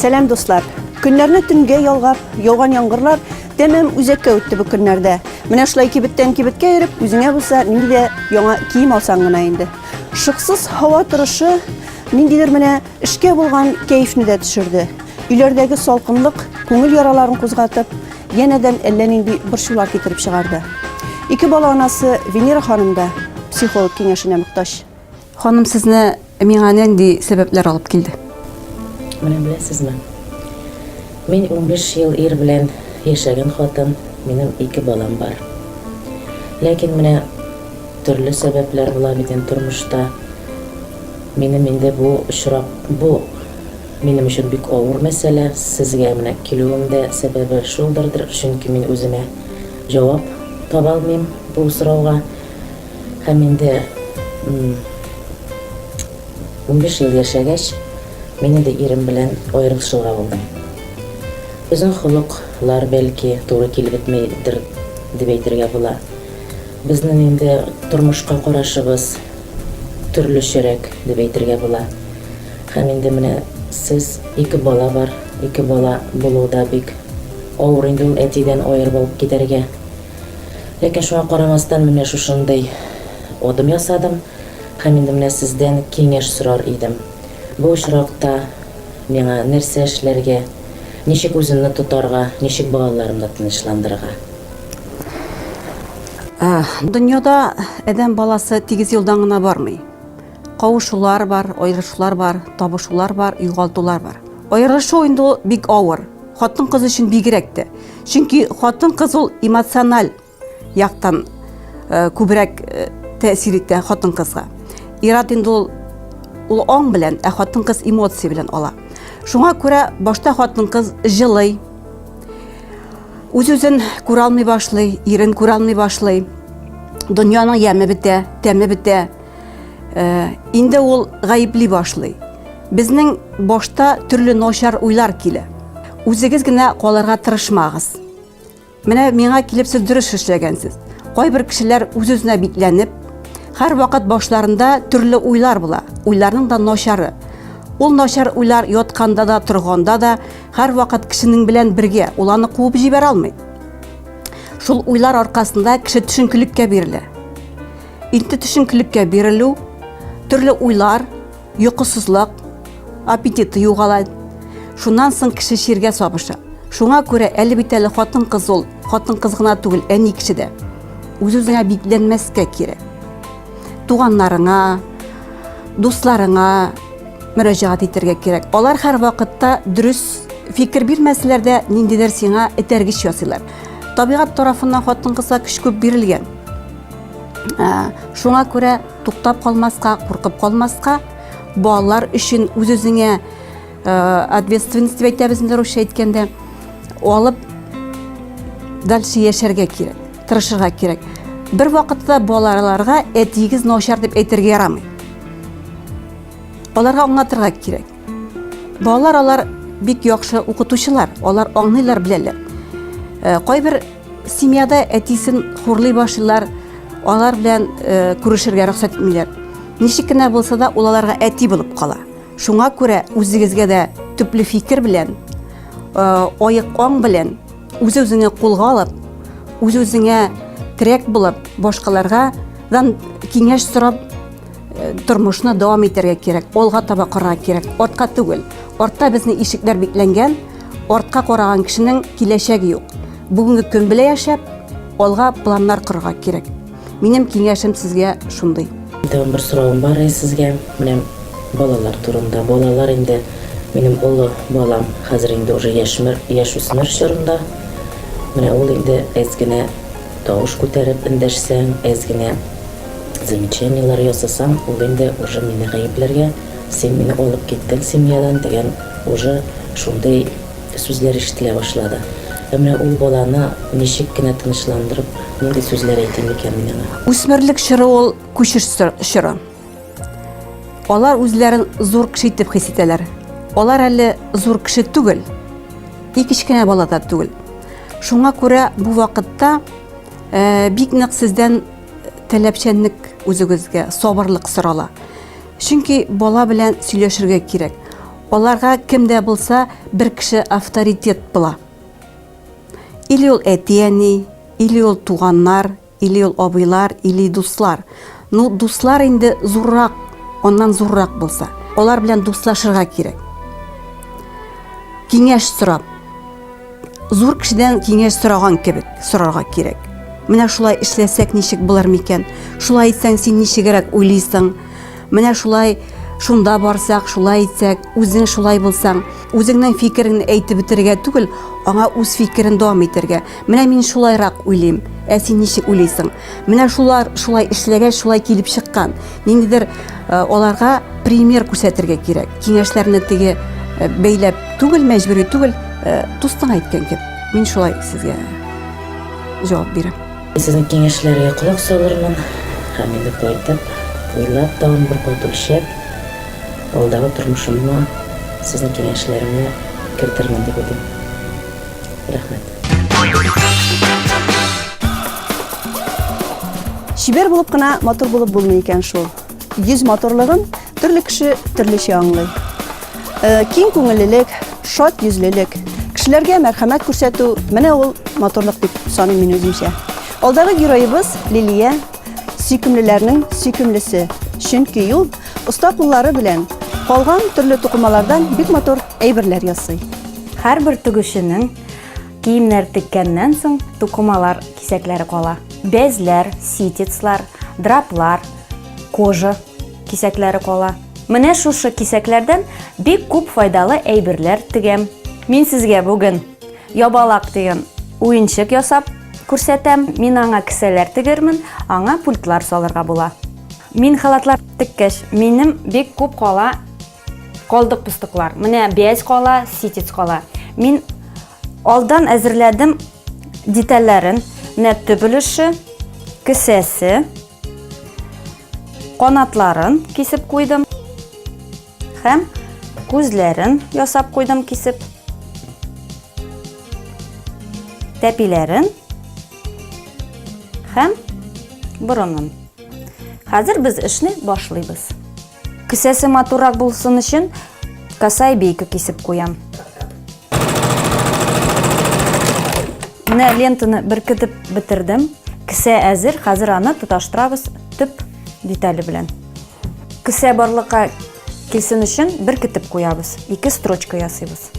Сәлам дуслар! Көннәрне төнгә ялгап, яуган яңгырлар тәмам үзәккә үтте бу көннәрдә. Менә шулай кибеттән кибеткә йөреп, үзеңә булса нинди дә яңа кием алсаң гына инде. Шыксыз һава торышы ниндидер менә Эшкә булган кәефне дә төшерде. Өйләрдәге салкынлык күңел яраларын кузгатып, янәдән әллә нинди борчулар китереп чыгарды. Ике бала анасы Венера ханым да психолог киңәшенә мөхтаҗ. Ханым, сезне миңа нинди сәбәпләр алып килде? Менә беләсезме? Мин 15 ел ир белән яшәгән хатын, минем ике балам бар. Ләкин менә төрле сәбәпләр була бит инде тормышта. Минем инде бу очрак бу. Минем өчен бик авыр мәсьәлә, сезгә менә килүем дә сәбәбе шулдырдыр, чөнки мин үземә җавап таба алмыйм бу сорауга. Һәм инде унбиш ел яшәгәч, мин инде ирем белән аерылышырга булдым. Безнең холык лар, бәлки, туры килеп бетмидер дип әйтергә була. Безнең инде тормышка карашыбыз Төрлечәрәк дип әйтергә була. Һәм инде менә сез ике бала бар, ике бала булу да бик авыр инде ул әтидән аерып алып китәргә. Ләкин шуңа карамастан менә шушындый адым ясадым һәм инде менә сездән киңәш сорар идем. Бу очракта миңа нәрсә эшләргә, ничек үземне тотарга, ничек балаларымны тынычландырырга? Ә, дөньяда әдәм баласы тигез юлдан гына бармый. Кавышулар бар, аерышулар бар, табышулар бар, югалтулар бар. Аерышу инде ул бик авыр. Хатын кыз өчен бигрәк тә. Чөнки хатын кыз ул эмоциональ яктан э, күбрәк э, тәэсир итә хатын кызга. Ират инде ул ул аң белән, ә хатын кыз эмоция белән ала. Шуңа күрә башта хатын кыз җылый, Үз-үзен күралмый башлый, ирен күралмый башлый. Дөньяның яме бетә, тәме бетә. Э, инде ул гаепли башлый. Безнең башта төрле ночар уйлар килә. Үзегез генә калырга тырышмагыз. Менә миңа килеп сез дөрес эшләгәнсез. Кайбер кешеләр үз-үзенә бикләнеп, Хәр вакыт башларында төрле уйлар була. Уйларның да начары. Ул начар уйлар ятканда да, торганда да һәрвакыт кешенең белән бергә, ул аны куып җибәрә алмый. Шул уйлар аркасында кеше төшенкелеккә бирелә. Инде төшенкелеккә бирелү, төрле уйлар, йокысызлык, аппетиты югала. Шуннан соң кеше чиргә сабыша. Шуңа күрә әле бит әле хатын-кыз ул, хатын-кыз гына түгел, әни кеше дә. Үз-үзеңә бикләнмәскә кирәк. туганнарыңа, дусларыңа мөрәҗәгать итәргә кирәк. Алар һәр вакытта дөрес фикер бирмәсәләр дә, ниндидер сиңа этәргеч ясыйлар. Табигать тарафыннан хатын-кызга көч күп бирелгән. Ә, шуңа күрә туктап калмаска, куркып калмаска, балалар өчен үз-үзеңә э, ответственность дип әйтәбез инде русча әйткәндә, алып дальше яшәргә кирәк. Тырышырга кирәк. Бер вакытта балаларга әтиегез начар дип әйтергә ярамый. Аларга аңлатырга кирәк. Балалар алар бик яхшы укытучылар, алар аңлыйлар беләләр. Э, кайбер семьяда әтисен хурлый башлыйлар, алар белән э, күрешергә рөхсәт итмиләр. Ничек кенә булса да ул аларга әти булып кала. Шуңа күрә үзегезгә дә төпле фикер белән, э, аек аң белән Үз-үзеңә кулга алып, үз-үзеңә терәк булып, башкаларга дан киңәш сорап э, тормышны дәвам итәргә кирәк, алга таба карарга кирәк, артка түгел. Артта безне ишекләр бикләнгән, артка караган кешенең киләчәге юк. Бүгенге көн белән яшәп, алга планнар корырга кирәк. Минем киңәшем сезгә шундый. Тагын бер соравым бар иде сезгә. Менә балалар турында. Балалар инде минем олы балам хәзер инде уже яшьмер, яшүсмер чорында. Менә ул инде әз генә тавыш күтәреп эндәшсәң, әз генә замечаниеләр ясасаң, ул инде уже мине гаепләргә, син мине алып киттең семьядан дигән уже шундый Сүзләр ишетелә башлады. Ә менә ул баланы ничек кенә тынычландырып, нинди сүзләр әйтим микән мин аңа? Үсмерлек чоры ул күчеш чоры. Алар үзләрен зур кеше итеп хис итәләр. Алар әле зур кеше түгел. И кечкенә бала да түгел. Шуңа күрә бу вакытта э, бик нык сездән таләпчәнлек үзегезгә, сабырлык сорала. Чөнки бала белән сөйләшергә кирәк. Аларга кем дә булса бер кеше авторитет була. Или ул әти-әни, или ул туганнар, или ул абыйлар, или дуслар. Ну, дуслар инде зуррак, аннан зуррак булса. Алар белән дуслашырга кирәк. Киңәш сорап, Зур кешедән киңәш сораган кебек сорарга кирәк. Менә шулай эшләсәк ничек булыр микән? Шулай итсәң син ничегрәк уйлыйсың? Менә шулай шунда барсак, шулай итсәк, үзең шулай булсаң, үзеңнең фикерен әйтеп бетерергә түгел, аңа үз фикерен дәвам итәргә. Менә мин шулайрак уйлыйм, ә син ничек уйлыйсың? Менә шулар шулай эшләгәч, шулай килеп чыккан. Ниндидер э, аларга пример күрсәтергә кирәк. Киңәшләрне теге э, бәйләп түгел, мәҗбүри түгел, э, дустың әйткән кебек. Мин шулай сезгә җавап бирәм. Сезнең киңәшләргә колак салырмын һәм инде кайтып, уйлап, тагын бер кат үлчәп, алдагы тормышымны сезнең киңәшләрне кертермен дип уйлыйм. Рәхмәт. Чибәр булып кына матур булып булмый икән шул. Йөз матурлыгын төрле кеше төрлечә аңлый. Э, киң күңеллелек, шат йөзлелек, кешеләргә мәрхәмәт күрсәтү, менә ул матурлык дип саныйм мин үземчә. Алдагы героебыз Лилия сөйкемлеләрнең сөйкемлесе, чөнки ул оста куллары белән калган төрле тукымалардан бик матур әйберләр ясый. Һәрбер тегүченең киемнәр теккәннән соң тукымалар кисәкләре кала. Бәзләр, ситецлар, драплар, кожа кисәкләре кала. Менә шушы кисәкләрдән бик күп файдалы әйберләр тегәм. Мин сезгә бүген ябалак дигән уенчык ясап күрсәтәм. Мин аңа кесәләр тегермен, аңа пультлар салырга була. Мин халатлар теккәч, минем бик күп кала. Калдык пустыклар. Менә бәяз кала, ситец кала. Мин алдан әзерләдем детальләрен. Менә төп өлеше, кесәсе, канатларын кисеп куйдым һәм күзләрен ясап куйдым кисеп. Тәпиләрен һәм борынын. Хәзер без эшне башлыйбыз. Кесәсе матуррак булсын өчен касай бейка кисеп куям. Менә лентаны беркетеп бетердем. Кесә әзер, хәзер аны тоташтырабыз төп детале белән. Кесә барлыкка килсен өчен беркетеп куябыз. Ике строчка ясыйбыз.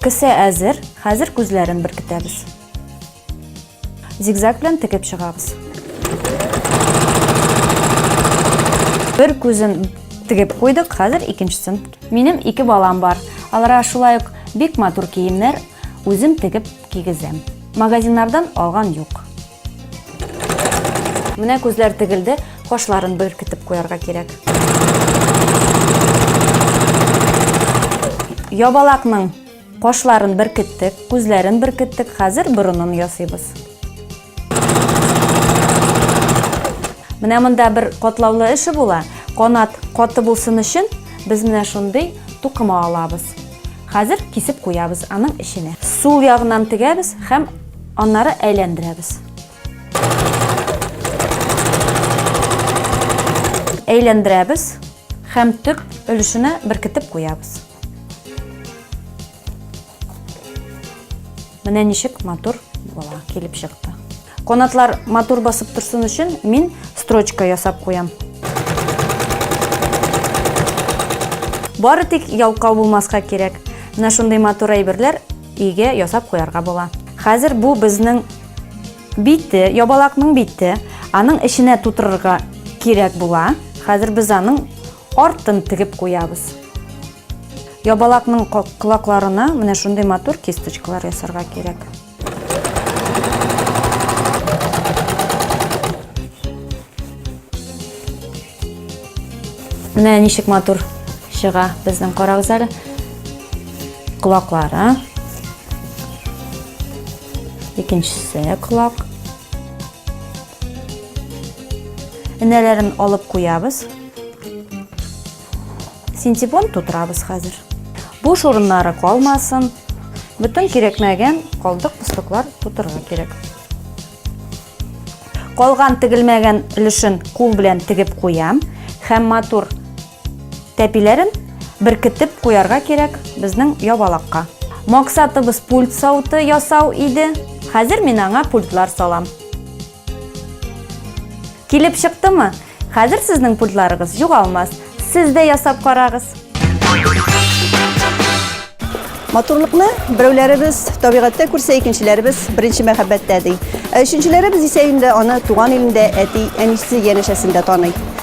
Кесә әзер, хәзер күзләрен беркетәбез. Зигзаг белән текеп чыгабыз. Бер күзен тегеп куйдык, хәзер икенчесен. Минем ике балам бар. Аларга шулай ук бик матур киемнәр үзем тегеп кигезәм. Магазиннардан алган юк. Менә күзләр тегелде, кашларын беркетеп куярга кирәк. Ябалакның Кашларын беркеттек, күзләрен беркеттек, хәзер борынын ясыйбыз. Менә монда бер катлаулы эше була. Канат каты булсын өчен без менә шундый тукыма алабыз. Хәзер кисеп куябыз аның эченә. Сул ягыннан тегәбез һәм аннары әйләндерәбез. Әйләндерәбез һәм төп өлешенә беркетеп куябыз. Менә ничек матур була, килеп чыкты. Канатлар матур басып торсын өчен мин строчка ясап куям. Бары тик ялкау булмаска кирәк. Менә шундый матур әйберләр иге ясап куярга була. Хәзер бу безнең бите, ябалакның бите, аның эченә тутырырга кирәк була. Хәзер без аның Артын тегеп куябыз. Ябалакның колакларына менә шундый матур кисточкалар ясарга кирәк. Менә ничек матур чыга безнең карагыз әле. Колаклары. Икенчесе колак. Энәләрен алып куябыз. Синтепон тутырабыз хәзер. Бу шурыннары калмасын. Бүтән кирәкмәгән калдык пустыклар тутырырга кирәк. Калган тегелмәгән өлешен кул белән тегеп куям һәм матур Тәпиләрен беркетеп куярга кирәк безнең ябалакка. Максатыбыз пульт сауты ясау иде. Хәзер мин аңа пультлар салам. Килеп чыктымы? Хәзер сезнең пультларыгыз югалмас. Сез дә ясап карагыз. Матурлыкны берәүләребез табигатьтә күрсә, икенчеләребез беренче мәхәббәттә ди. Ә өченчеләребез исә инде аны туган илендә әти, әнисе, янәшәсендә таный.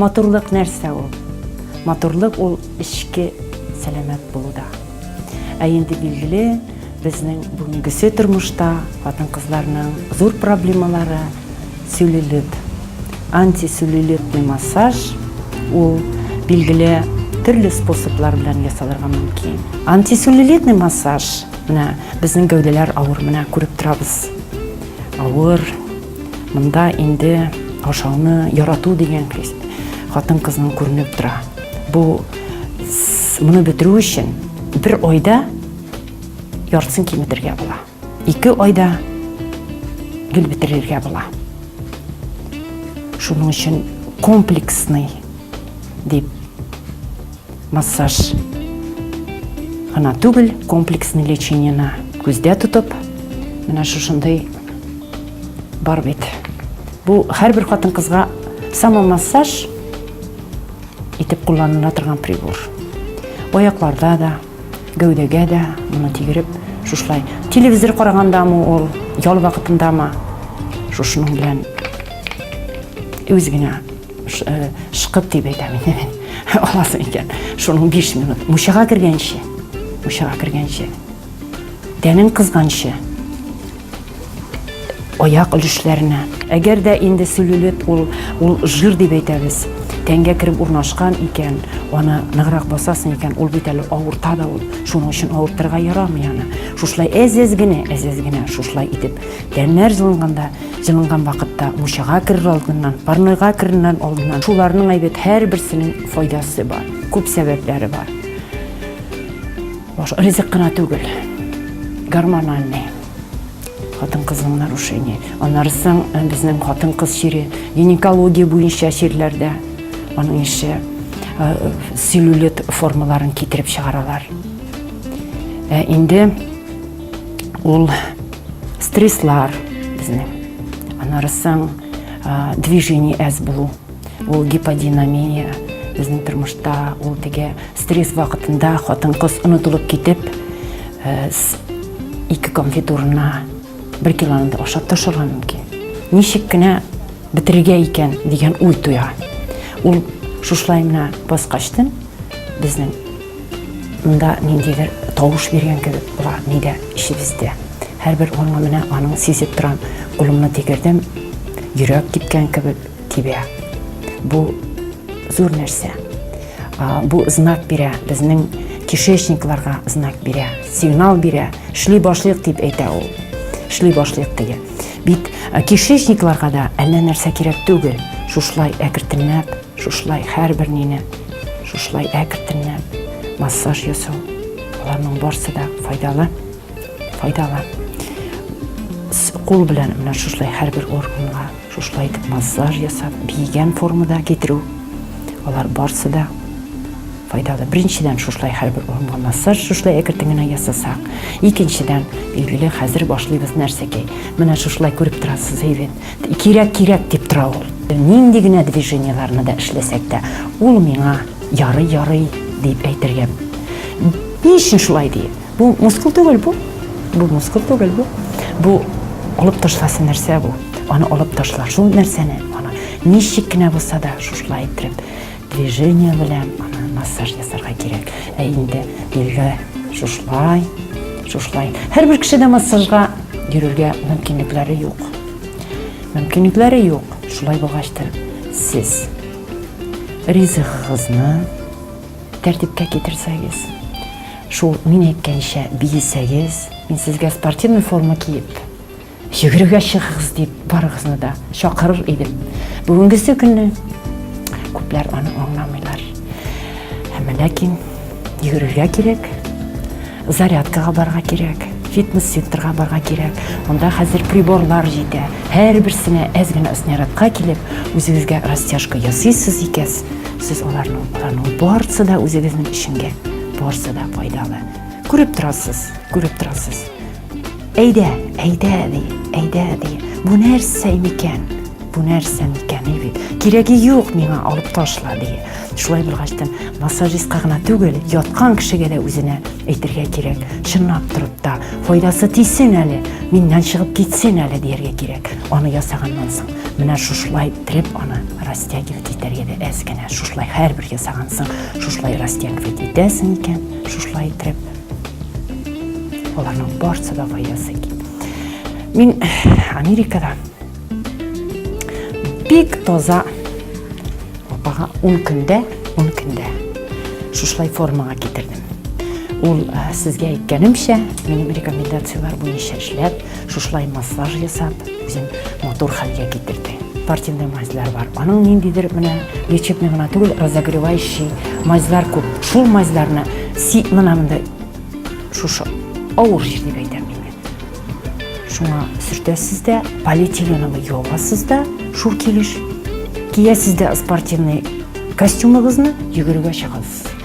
Матурлык нәрсә ул? Матурлык ул эчке сәламәт булуда. Ә инде билгеле, безнең бүгенгесе тормышта хатын-кызларның зур проблемалары сюлилит. Антисюлилитный массаж ул билгеле төрле способлар белән ясалырга мөмкин. Антисюлилитный массаж, менә безнең гәүдәләр авыр, менә күреп торабыз. Авыр, Монда инде ашауны ярату дигән хис хатын кызның күренеп тора. Бу моны бетерү өчен бер айда яртысын киметергә була. Ике айда гел бетерергә була. Шуның өчен комплексный дип Массаж гына түгел, комплексный лечениены күздә тотып, менә шушындый бар бит. Бу һәрбер хатын-кызга самомассаж итеп кулланыла торган прибор. Аякларда да, гәүдәгә дә моны тигереп, шушылай телевизор карагандамы ул, ял вакытындамы, шушының белән үз генә Шкып дип әйтәм инде мин. Аласы икән. Шуның 5 минут. Мучага кергәнче. Мучага кергәнче. Тәнең кызганчы. Аяк өлешләренә. Әгәр дә инде сүлелеп ул ул жир дип әйтәбез. Тәнгә кереп урнашкан икән, аны ныграк басасың икән, ул бит әле авырта да ул. Шуның өчен авыртырга ярамый аны. Шушлай әз-әз генә, әз-әз генә шушлай итеп. Тәннәр җылынганда Җылынган вакытта мучага керер алдыннан, парнойга кереннән алдыннан шуларның әйбәт һәрберсенең файдасы бар. Күп сәбәпләре бар. Баш ризык кына түгел. Гормональный хатын-кызның нарушение. Аннары соң э, безнең хатын-кыз чире гинекология буенча чирләрдә аның ише э, целлюлит формаларын китереп чыгаралар. Ә инде ул Стреслар безне. Анарысың движение әз булу. Ул гиподинамия безнең тормышта ул теге стресс вакытында хатын кыз онытылып китеп ике конфет урынына бер килоны да ашап ташларга мөмкин. Ничек кенә бетерергә икән дигән уй туя. Ул шушылай гына баскачтын безнең Монда ниндидер тавыш биргән кебек була нидә эчебездә. Һәрбер урынга менә аның сизеп торам, кулымны тигердем, йөрәк типкән кебек тибә. Бу зур нәрсә. Бу знак бирә, безнең кишечникларга знак бирә, сигнал бирә, шли башлык дип әйтә ул. Шли башлык диге. Бит кишечникларга да әллә нәрсә кирәк түгел, шушлай әкртенләп Шушылай һәрбер нине шушылай әкртеннән массаж ясау, аларның барсы да файдалы, файдалы. Кул белән менә шушылай һәрбер органга шушылай итеп массаж ясап, биегән формада китерү, алар барсы да файдалы. Беренчедән шушылай һәрбер урынга массаж шушылай әкертен генә ясасак, икенчедән, билгеле, хәзер башлыйбыз нәрсәгә? Менә шушылай күреп торасыз, әйбәт. Кирәк, кирәк дип тора ул. Нинди генә движениеларны да эшләсәк тә, ул миңа ярый, ярый дип әйтергә. Ни өчен шулай ди? Бу мускул түгел бу. Бу мускул түгел бу. Бу алып ташласы нәрсә бу? Аны алып ташла. Шул нәрсәне аны ничек кенә булса да шушылай иттереп Движение белән аны массаж ясарга кирәк. Ә инде билгә шушлай, шушлай. Һәрбер кешедә массажга йөрергә мөмкинлекләре юк. Мөмкинлекләре юк. Шулай булгач та сез ризыгыгызны тәртипкә китерсәгез, шул мин әйткәнчә биесәгез, мин сезгә спортивный форма киеп Йөгерергә чыгыгыз дип барыгызны да чакырыр идем. Бүгенгесе көнне күпләр аны аңламыйлар. Әмма ләкин йөгерергә кирәк, зарядкага барга кирәк, фитнес-центрга барга кирәк. Монда хәзер приборлар җитә. Һәрберсенә әз генә снарядка килеп, үзегезгә растяжка ясыйсыз икәс, сез аларның аларның барысы да үзегезнең эшеңгә барысы да файдалы. Күреп торасыз, күреп торасыз. Әйдә, әйдә, ди, әйдә, ди. Бу нәрсә микән? Бу нәрсә микән, ди бит. Кирәге юк миңа, алып ташла, ди. Шулай булгачтан, массажистка гына түгел, яткан кешегә дә үзенә әйтергә кирәк. Чынлап торып та, файдасы тисен әле, миннән чыгып китсен әле дияргә кирәк. Аны ясаганнан соң, менә шушылай иттереп аны растягивать итәргә дә әз генә. Шушылай һәрбер ясагансын, шушылай растягивать итәсең икән, шушылай иттереп. Аларның барсы да файдасы ки. Мин Америкада бик таза апага 10 көндә, 10 көндә шушылай формага китердем. Ул э, сезгә әйткәнемчә, минем рекомендацияләр буенча эшләп, Шушылай массаж ясап, үзен матур хәлгә китерде. Спортивный мазьлар бар. Аның ниндидер менә лечебный гына түгел, разогревающий мазьлар күп. Шул мазьларны си мына монда шушы авыр жир дип әйтәм мин. Шуңа сөртәсез дә, полиэтиленовый юабасыз да, шул килеш. Киясез дә спортивный костюмыгызны йөгерергә чыгасыз.